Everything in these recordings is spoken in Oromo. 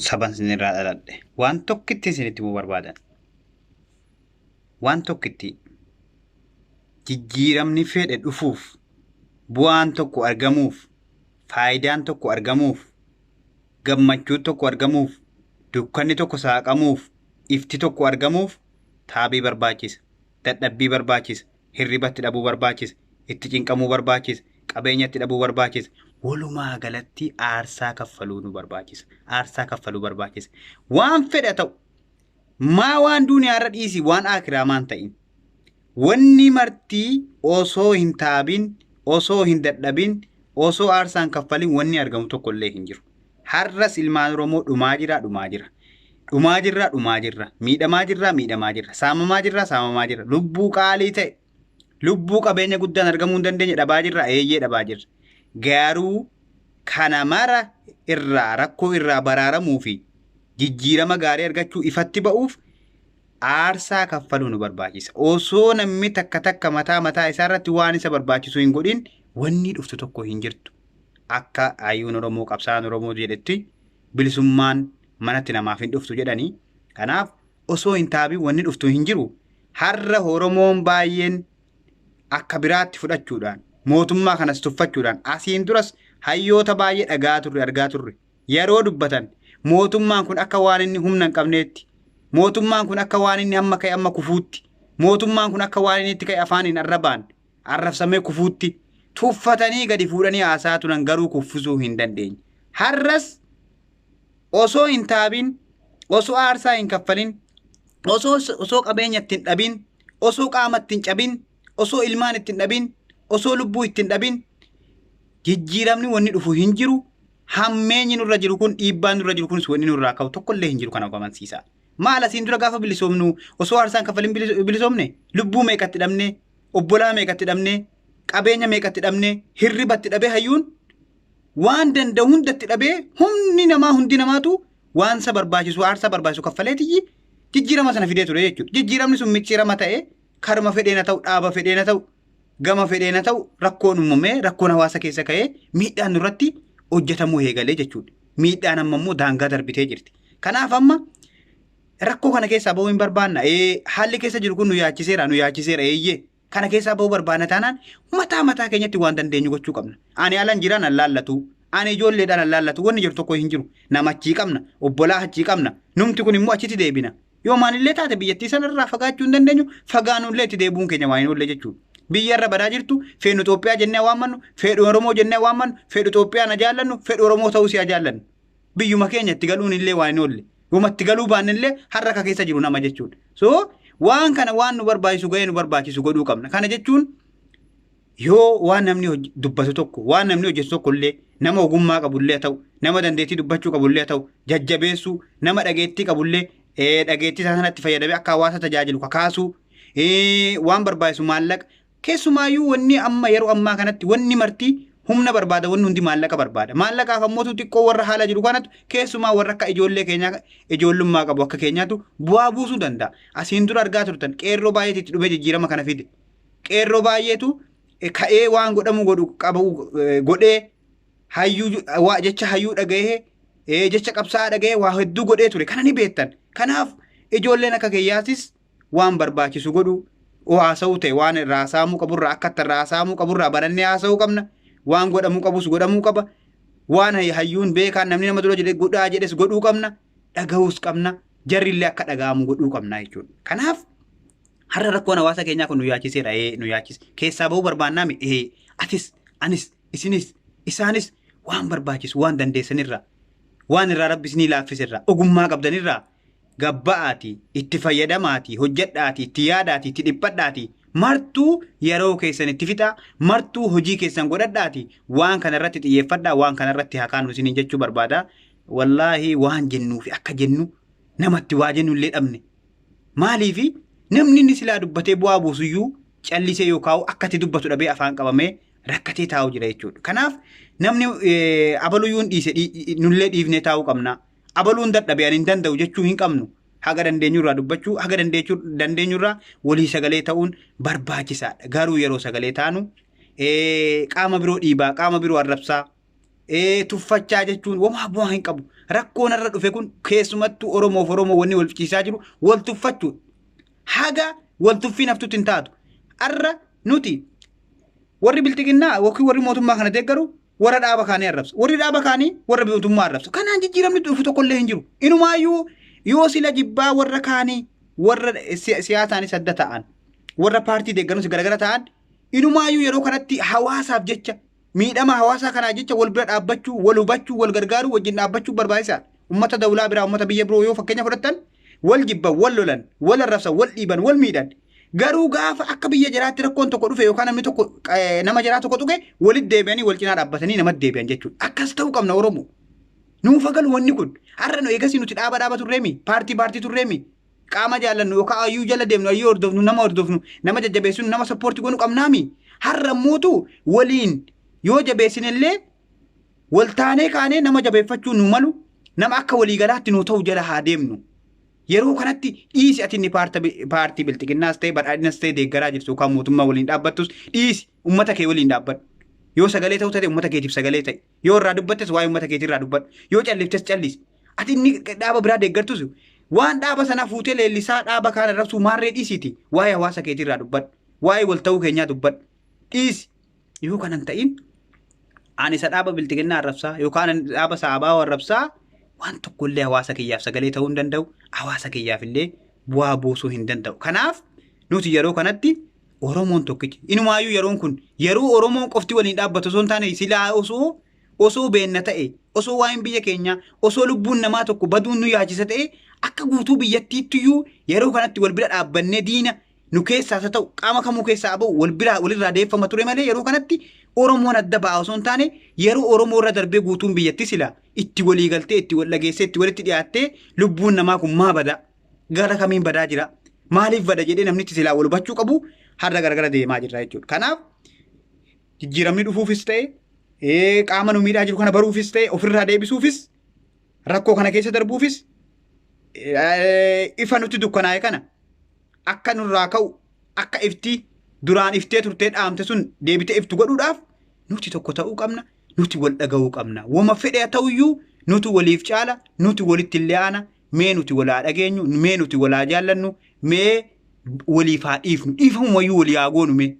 saban isin irraa dhaladhe. Waan tokkittiin isin itti himuu barbaadan. Waan tokkittii. Jijjiiramni fedhe dhufuuf, bu'aan tokko argamuuf, faayidaan tokko argamuuf, gammachuun tokko argamuuf, dukkanni tokko saaqamuuf, ifti tokko argamuuf taabii barbaachisa, dadhabbii barbaachisa, hirriba itti dhabuu barbaachise, itti cinqamuu barbaachise, qabeenya itti dhabuu barbaachise. Walumaa galatti aarsaa kaffaluu nu barbaachisa. Aarsaa kaffaluu barbaachisa. Waan fedha ta'u maa waan duuniyaarra dhiisi waan aakiraa maan ta'in. Wanni martii osoo hin taabin, osoo hin dadhabin, osoo aarsaan kaffalin wanni argamu tokkollee hin jiru. Har'as ilmaan Oromoo dhumaa jiraa dhumaa jira. Dhumaa jirraa dhumaa jirra. Miidhamaa jirraa miidhamaa jirra. Saamamaa jirraa saamamaa jirra. Lubbuu qaalii ta'e lubbuu qabeenya guddaan argamuu hin dandeenye dhabaa jirraa eeyyee dhabaa jirra. Garuu kana mara irraa rakkoo irraa baraaramuu fi jijjiirama gaarii argachuu ifatti ba'uuf aarsaa kaffaluu nu barbaachisa. Osoo namni takka takka mataa mataa isaa irratti waan isa barbaachisu hin godhin wanni dhuftu tokko hin jirtu. akka hayyuun Oromoo qabsaa'aan Oromoo jedhetti bilisummaan manatti namaaf hin dhuftu jedhani. Kanaaf osoo hin taabin wanni dhuftu hin jiru. Har'a Oromoon baay'een akka biraatti fudhachuudhaan mootummaa kanas tuffachuudhaan asiin duras hayyoota baay'ee dhagaa turre argaa turre yeroo dubbatan mootummaan kun akka waan inni humna hin qabneetti mootummaan kun akka waan inni amma ka'e amma kufuutti mootummaan kun akka waan inni itti ka'e afaaniin arrabaan arrabsamee kufuutti tuffatanii gadi fuudhanii haasa'aa turan garuu kuffisuu hin dandeenye. Har'as osoo hin taabin, osoo aarsaa hin kaffalin, osoo osoo qabeenya ittiin dhabin, osoo qaama ittiin cabin, osoo ilmaan ittiin dhabin, osoo lubbuu ittiin dhabin jijjiiramni wanni dhufu hin jiru. Hammeenyi nurra jiru kun dhiibbaan nurra jiru kunis wanni nurraa ka'u tokkollee hin jiru kana amansiisa. Maal asiin dura gaafa bilisoomnu osoo aarsaan kaffalin bilisoomne lubbuu meeqatti dhabne obbolaa meeqa itti dhabnee qabeenya meeqa itti dhabnee hirriba itti dhabee hayyuun waan danda'u hunda itti dhabee humni namaa hundi namaatu waan isa barbaachisu aarsaa barbaachisu kaffalee tiyyi jijjiirama sana fidee ture jechuudha. Jijjiiramni sun micciirama ta'ee karuma fedheena ta'u dhaaba fedheena ta'u gama fedheena ta'u rakkoon uumamee rakkoon hawaasa keessa ka'ee miidhaan nurratti hojjetamuu eegalee jechuudha. Miidhaan amma immoo daangaa darbitee jirti. Kanaaf amma Rakkoo kana keessaa ba'uu hin barbaanna. Ee, haalli keessa jiru kun nu yaachiseera, nu yaachiseera eeyyee. Kana keessaa ba'uu barbaanna taanaan mataa mataa keenyatti waan dandeenyu gochuu qabna. Ani alan jira nan laallatu. Ani ijoolleedhaan nan laallatu. Wanni jiru tokko hin jiru. Nama achii qabna. Obbolaa achii qabna. Numti kun immoo achitti deebina. Yoo maalillee taate biyyattii sana irraa fagaachuu hin dandeenyu fagaanullee itti deebi'uun keenya waa hin oolle jechuudha. Biyya irra badaa jirtu feenu Itoophiyaa jennee waammannu, feedhu Oromoo jennee waammannu, feedhu Itoophiyaa na jaallannu, feedhu Oromoo ta'uu si'a jaallannu. biyyuma keenya itti galuun illee waa hin oolle yooma itti galuu baanne illee har'a akka keessa jiru nama jechuudha so waan kana waan nu barbaachisu ga'ee nu barbaachisu godhuu qabna kana jechuun yoo waan namni hoj- dubbatu tokko waan namni hojjetu tokko illee nama ogummaa qabu illee haa ta'u nama dandeettii dubbachuu qabu illee haa ta'u jajjabeessuu nama dhageettii qabu illee eh, dhageettii isaa sanatti fayyadamee akka hawaasa tajaajilu kakaasuu eh, waan barbaachisu maallaqa Keessumaayuu wanni amma yeroo ammaa kanatti wanni marti humna barbaada wanni hundi maallaqa barbaada. Maallaqaaf ammootu xiqqoo warra haala jiru kanatu keessumaa warra akka ijoollee keenyaa ijoollummaa qabu akka keenyaatu bu'aa buusuu danda'a. Asiin dura argaa turtan qeerroo baay'eetu itti dhufee jijjiirama kana fide. Qeerroo baay'eetu eh, ka'ee waan godhamu godhu qabu eh, godhee hayyuu ju- waa- jecha hayyuu dhaga'ee eh, jecha qabsaa'aa dhaga'ee waa hedduu godhee ture. Kana ni beektan. Kanaaf ijoolleen akka keeyyaatis waan barbaachisu godhu haasa'uu ta'e waan irraa haasa'amuu qaburraa akka itti irraa haasa'amuu qaburraa barannee haasa'uu qabna waan godhamuu qabus godhamuu qaba waan hayyuun beekaan namni nama dura jedhe godhaa jedhes godhuu qabna dhagahuus qabna jarrillee akka dhaga'amu godhuu qabna jechuudha kanaaf har'a rakkoon hawaasa keenyaa kun nu yaachiseera ee nu yaachise keessaa bahuu barbaannaami ee atis anis isinis isaanis waan barbaachisu waan dandeessanirraa waan irraa rabbi isinii laaffiserraa ogummaa qabdanirraa gabba'aatii, itti fayyadamaatii, hojjedhaatii, itti yaadaatii, itti dhiphadhaatii, martuu yeroo keessan itti fixaa, martuu hojii keessan godhadhaatii, waan kana irratti xiyyeeffadhaa, waan kana irratti haa kaanu isiniin jechuu barbaada. Wallaahi waan jennuu fi akka jennu namatti waa jennu illee dhabne. Maaliifi namni inni silaa dubbatee bu'aa buusuyyuu callisee yoo kaa'u akka itti dubbatu dhabee afaan qabamee rakkatee taa'u jira jechuudha. Kanaaf namni eh, abaluyyuu hin dhiise dhii- nullee dhiifnee taa'uu qabna. abaluun dadhabe ani hin danda'u jechuu hin qabnu. Haga dandeenyurraa dubbachuu, haga dandeechuu- dandeenyurraa walii sagalee ta'uun barbaachisaadha. Garuu yeroo sagalee taanu ee, qaama biroo dhiibaa, qaama biroo arrabsaa, ee, tuffachaa jechuun wamaa bu'aa hin qabu. Rakkoon irra dhufe kun keessumattuu Oromoof Oromoo wanni wal fichiisaa jiru wal tuffachuudha. Haga wal tuffiin haftutti hin taatu. Har'a nuti warri bilxiginnaa yookiin warri mootummaa kana deeggaru warra dhaaba kaanii arrabsa. Warri dhaaba kaanii warra mootummaa arrabsa. Kanaan jijjiiramni dhufu tokkollee hin jiru. Inumaayyuu yoo sila jibbaa warra kaanii warra si- siyaasaanis adda ta'an warra paartii deeggarus garagara ta'an inumaayyuu yeroo kanatti hawaasaaf jecha miidhama hawaasaa kanaa jecha wal bira dhaabbachuu wal hubachuu wal gargaaruu wajjin dhaabbachuu barbaachisaadha. Uummata dawlaa biraa uummata biyya biroo yoo fakkeenya fudhattan wal jibban, wal lolan, wal arrabsan, wal dhiiban, wal miidhan. Garuu gaafa akka biyya jiraatti rakkoon tokko dhufe yookaan namni tokko eh, nama jiraa tokko tuqe walitti deebi'anii wal cinaa dhaabbatanii namatti deebi'an jechuudha. Akkas ta'uu qabna Oromoo. Nuuf hagalu wanni kun. Har'a nu eegasii nuti dhaaba dhaaba turreemi, paartii paartii turreemi. Qaama jaallannu yookaan ayyuu jala deemnu, ayyuu hordofnu, nama hordofnu, nama jajjabeessinu, nama sappoortii goonu qabnaami. Har'a mootu waliin yoo jabeessinellee Waltaanee kaanee nama jabeeffachuu nuu malu nama akka waliigalaatti nuu ta'u jala haa deemnu. Yeroo kanatti dhiisi ati inni paartii bilxiginnaas ta'e badhaadhinas ta'e deeggaraa jirtu yookaan mootummaa waliin dhaabbattus dhiisi ummata kee waliin dhaabbadhu. Yoo sagalee ta'uu taate ummata keetiif sagalee ta'i. Yoo irraa dubbattes waa'ee ummata keetii irraa dubbadhu. Yoo calliftes callisi. Ati inni dhaaba biraa deeggartus waan dhaaba sanaa fuutee leellisaa dhaaba kaan arrabsuu maarree dhiisiiti waa'ee hawaasa keetii irraa dubbadhu. Waa'ee wal ta'uu keenyaa dubbadhu. Dhiisi. Yoo kana hin ta'in ani isa dhaaba bilxiginnaa arrabsaa yookaan ani dhaaba saabaa arrabsaa waan tokko illee hawaasa kiyyaaf sagalee ta'uu hin danda'u hawaasa kiyyaaf illee bu'aa buusuu hin danda'u. Kanaaf nuti yeroo kanatti Oromoon tokkichi inumaayyuu yeroon kun yeroo Oromoon qofti waliin dhaabbatu osoo hin taane silaa osoo osoo beenna ta'e osoo waa'een biyya keenyaa osoo lubbuun namaa tokko baduun nu yaachisa ta'e akka guutuu biyyattiitti iyyuu yeroo kanatti wal bira dhaabbannee diina nu keessaas haa ta'u qaama kamuu keessaa abo wal biraa walirraa deeffama ture malee yeroo kanatti Oromoon adda ba'aa osoo hin taane yeroo Oromoo irra darbee guutuun biyyatti sila itti walii galtee itti wal dhageessee itti walitti dhiyaattee lubbuun namaa kun maa bada gara kamiin badaa jira maaliif bada jedhee namnitti silaa wal hubachuu qabu har'a garagara deemaa jirra jechuudha. Kanaaf jijjiiramni dhufuufis ta'e qaama nu miidhaa jiru kana baruufis ta'e ofirraa deebisuufis rakkoo kana keessa darbuufis ifa nutti dukkanaa'e kana akka nurraa ka'u akka iftii duraan iftee turtee dhaamte sun deebitee iftu godhuudhaaf nuti tokko ta'uu qabna nuti wal dhaga'uu qabna wama fedhe ta'uyyuu nuti waliif caala nuti walitti illee aana mee nuti walaa dhageenyu mee nuti walaa jaallannu mee waliif haa dhiifnu dhiifamumayyuu walii haa goonu mee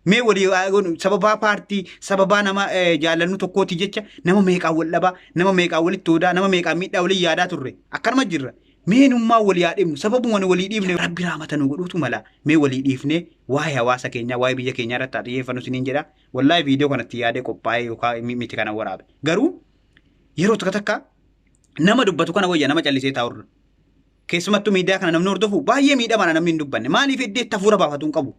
Mee walii haa godhu sababaa paartii sababaa nama eh, jaallannu tokkooti jecha nama meeqaan wal dhabaa nama meeqaan walitti hoodaa nama meeqaan miidhaa walii yaadaa turre akkanuma jirra. Mee nummaa walii haa dhibnu sababuma nu walii dhiibne rabbi raamata nu godhuutu mala mee walii dhiifnee waa'ee hawaasa keenyaa waa'ee biyya keenyaa irratti haa xiyyeeffannu isiniin jedha. Wallaahi viidiyoo kanatti yaadee qophaa'ee yookaan mi- miti kana waraabe. Garuu yeroo tokko takka nama dubbatu kana wayya nama callisee taa'urra. Keessumattuu miidiyaa kana namni hordofu baay'ee miidhamaadha namni hin dubbanne. Maaliif iddoo itti hafuura baafatu hin qabu.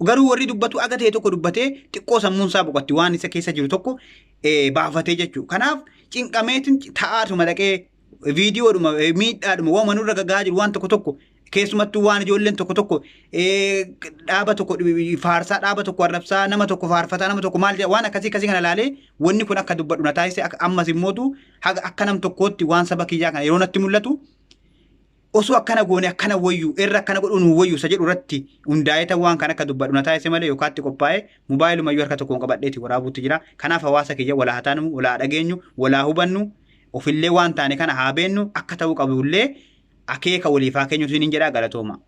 Garuu warri dubbatu aga ta'e tokko dubbatee xiqqoo sammuun isaa boqotti waan isa keessa jiru tokko eh, baafatee jechuudha. Kanaaf cinqameetiin ta'aatuma dhaqee viidiyoodhuma eh, miidhaadhuma waanuma nurra gagaa jiru waan tokko tokko keessumattuu waan ijoolleen tokko tokko eh, dhaaba tokko dhi- faarsaa dhaaba tokko arrabsaa nama tokko faarfataa nama tokko maal jedha waan akkasii akkasii kana ilaalee wanni kun akka dubbadhu na taasise akka- ammas immootu haga akka nam tokkootti waan saba kiyyaa kana yeroo natti mul'atu osoo akkana goone akkana wayyu irra akkana godhuu nuu wayyu isa jedhu irratti hundaa'eeta waan kan akka dubbadhu na taasise malee yookaatti qophaa'ee mobaayilumayyuu harka tokkoon qabadheeti waraabuutti jira. Kanaaf hawaasa kiyya walaa haa taanu, walaa dhageenyu, walaa hubannu, ofillee waan taane kana haa beennu akka ta'uu qabullee akeeka waliif haa keenyu siin hin jedhaa galatooma.